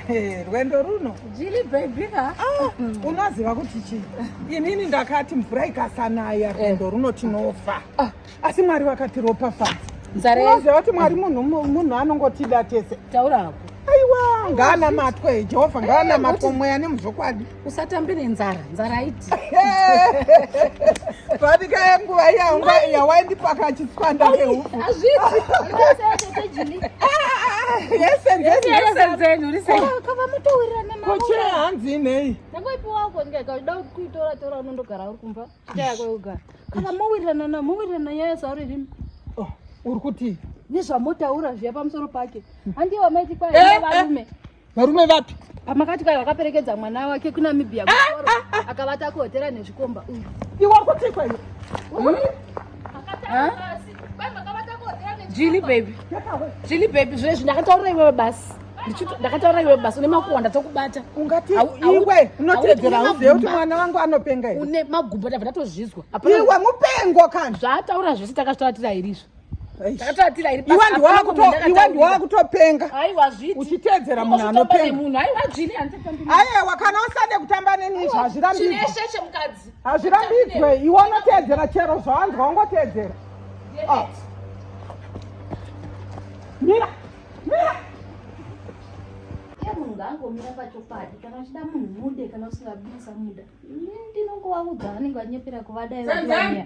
Eh, rwendo runo jili baby ka ah, unoziva kuti chii inini ndakati mvura ikasanaya eh. rwendo runo tinofa ah. asi mwari vakatiropafadza unoziva kuti mwari munhu anongotida tese taura hako aiwa ngaana matwe jehovha ngaana matwe mweya nemuzvokwadi usatambe nenzara nzara haiti panika yenguva yangu yawaindipaka chitswanda keufu hazviti kochera hanzi inei ndakoipiwako ndikaida kuitora tora unondogara uri kumba chita yako yekugara kana mowirirana na mowirirana nyaya zvauri rimi oh, uri kuti nezvamotaura zviya pamusoro pake handiye wamaiti kwaavarume eh, eh. Varume vapi? Pamakati kai wakaperekedza mwana wake kuNamibia ah, ah, ah. akavata kuhotera nezvikomba uyu. Iwe kuti kwani? Hmm? Jili baby. Jili baby zvezvi ndakataura iwe basi. Ndakataura iwe basi une makonda tokubata. Ungati iwe unotedzera uzive kuti mwana wangu anopenga here? Une magumbo ndabva ndatozvizwa. Iwe mupengo kana. Zvaataura zvese takazvitaura tiri airizvo. iwandiwakutopenga uchiteedzera munhu anopengaaiwa kana usade kutamba neni izvo hazvirambidzwe iwe unoteedzera chero zvawanzwa ungoteedzera ah. mira mira munhu angomira pachokwadi kana uchida munhu mude kana usingabisa muda ndinongovaudza vanenge vanyepera kuvadaiaa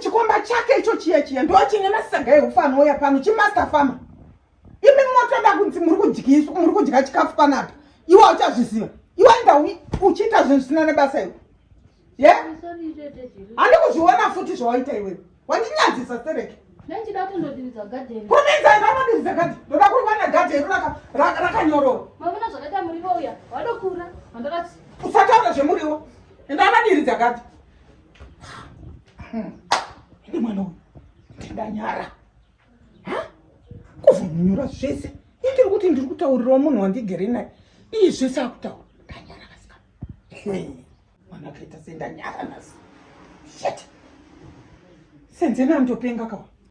chikomba chake icho chiye chiye ndo chine masaga ehufa anouya pano chimaster farmer imi motoda kunzi muri kudyiswa muri kudya chikafu panapa iwe uchazviziva iwe enda uchiita zvinhu zvisina nebasa iwe ye handi kuzviona futi zvawaita iwewe wandinyadzisa sereke ndoda kundodiridza gadhe ndoda kuruva nagadhe iro rakanyorova usataura zvemuriwo enda anodiridza gadhe Ini mwana uyu ndinganyara kuzomunyura zvese indiri kuti ndiri kutaurirawo munhu wandigere naye iyi zvese akutaura ndanyara kasika mwana akaita sendanyara nasi shet senzeni andopenga kawa